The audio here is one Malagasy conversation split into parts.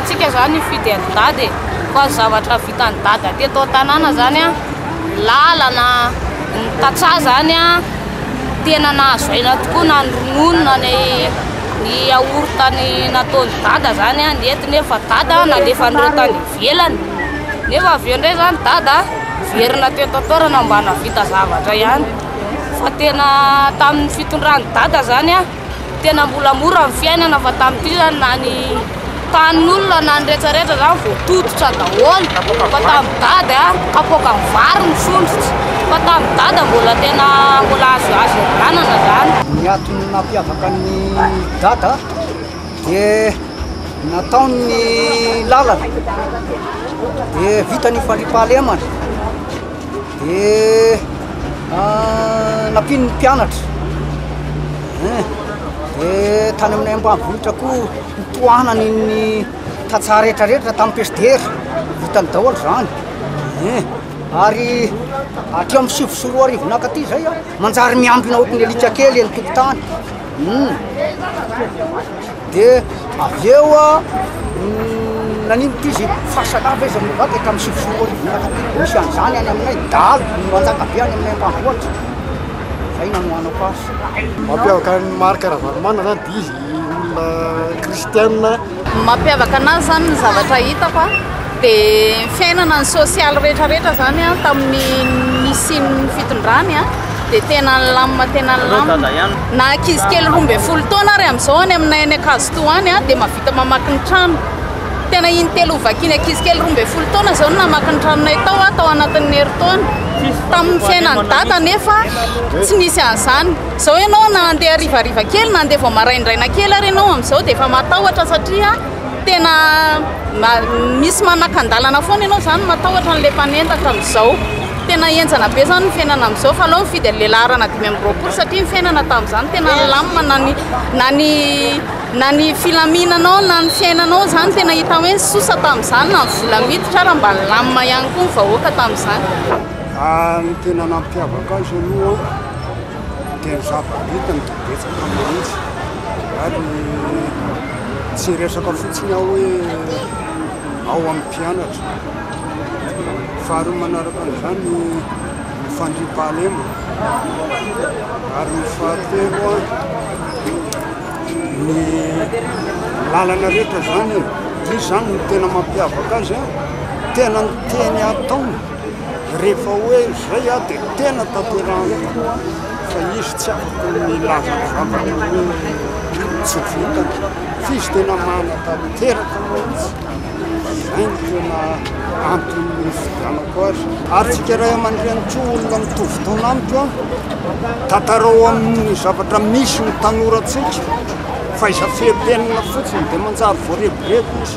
Tsika zany nifidy an'i dada e, fa zavatra vitan'i dada teto an-tanàna zany an, lalana, ny tantsaha zany an, tena nahazo aina tokoa na ny ronono na ny ny yaourt ny nataon'i dada zany an, nety nefa dada nalefan'ireo tany ivelany, nefa avy eo indray zany dada niverina teto an-toerana mba nahavita zavatra ihany, fa tena tamin'ny fitondran'i dada zany an. Tena mbola mora ny fiainana fa tamin'ity zany na ny tanin'olona na ny rehetrarehetra zany voatototra daholo fa tamin'ny dada a kapoaka ny vary ny sondrotra fa tamin'ny dada mbola tena mbola azo azo ihavanana zany. Ny antony nampiavaka ny dada dia nataony ny lalana dia vita ny faripahalemana. dia ah, nampiany ny mpianatra eh, dia tany amin'ny ambanivohitra koa nitohanany ny tantsaha rehetrarehetra tamin'ny pesdera hitany daholo zany eh, ary atri amin'ny sivy sy roa arivo naka ty zay a manjary miambina ohatry ny alika kely eny tokotany hmm. Dia avy eo naninona izy, fasana ve izy mivavaka dia tamin'ny sivy sy roa arivo niaraka dia misy an'izany any aminay, dahalo no manjaka be any aminay ambanivohitra, izay nanohanako azy. Mampiavaka an'i Marc Ravalomanana zany dia izy olona kristiana. Ny mampiavaka anazy zany ny zavatra hitako a. Dia ny fiainana ny sosialy rehetra rehetra zany an tamin'ny nisian'ny fitondrany an dia tena nilamina tena nilamina na ankizy kely roa ambin'ny folo taona ary amin'izao any aminay any Ankazotoa any an dia mavita mamaky ny trano tena iny telo vakiana ankizy kely roa ambin'ny folo taona izao no namaky ny tranonay tao an tao anatin'ny herintaona tamin'ny fiainan'ny dada nefa tsy nisy an'izany izao ianao na handeha harivariva kely na handeha vao maraindraina kely ary ianao amin'izao dia efa matahotra satria Tena misy manakan-dalana foana ianao izany matahotra an'ilay mpanendaka amin'izao. Tena henjana be izany ny fiainana amin'izao fa aleo mifidy an'ilay laharana dimy amby roapolo satria ny fiainana tamin'izany tena nilamina na ny na ny na ny filaminanao na ny fiainanao izany tena hita hoe nisosa tamin'izany na ny vola miditra ary mba nilamina ihany koa ny vahoaka tamin'izany. Raha ny tena nampiavaka azy aloha dia ny zava-bitany dia betsaka mihitsy ary Tsy resaka fotsiny aho hoe ao amin'ny mpianatra, faharoa manaraka an'izany ny fandriampahalemana, ary ny fahatelo ny lalana rehetra izany e, izy izany no tena mampiavaka azy a, tena ny teny ataony. Rehefa hoe izay aho dia tena tanterahany tokoa fa izy tsy afaka ny hilaza ny zavatra hoe tsy vitany fa izy tena manatanteraka mihitsy. Izay no tena antony nifidianako azy. Ary tsika ray aman-dreny koa olona mitovy taona amiko, tantarao amin'ny zavatra misy ny tanorantsika fa izay fehipenina fotsiny dia manjary voareborebo.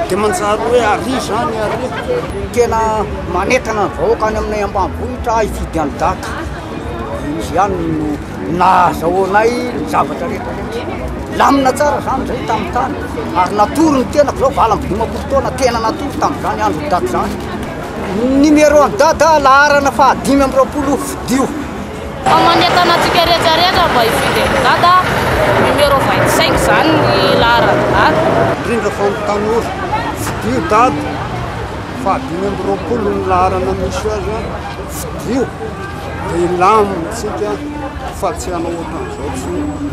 Dia manjary hoe ary izany ary tena manentana ny vahoaka any aminay ambanivohitra hifidy an'i Daka. Izy ihany no nahazahoanay ny zavatra rehetra rehetra. Lamina tsara izany izay tamin'ny tany ary natory ny tenako izao valo amby dimampolo taona tena natory tamin'izany andron'i Daka izany. Numéro an'i Dada laharana fahadimy amby roapolo fidio. Fa manentana antsika rehetra rehetra mba hifidy an'i Dada numéro 25 zany ny laharan'i Dada. Indrindra fa ny tanora, fidio Dada faha dimy amby roapolo ny laharana misy azy an, fidio dia hilamina tsika fa tsy hanao ohatran'izao tsony.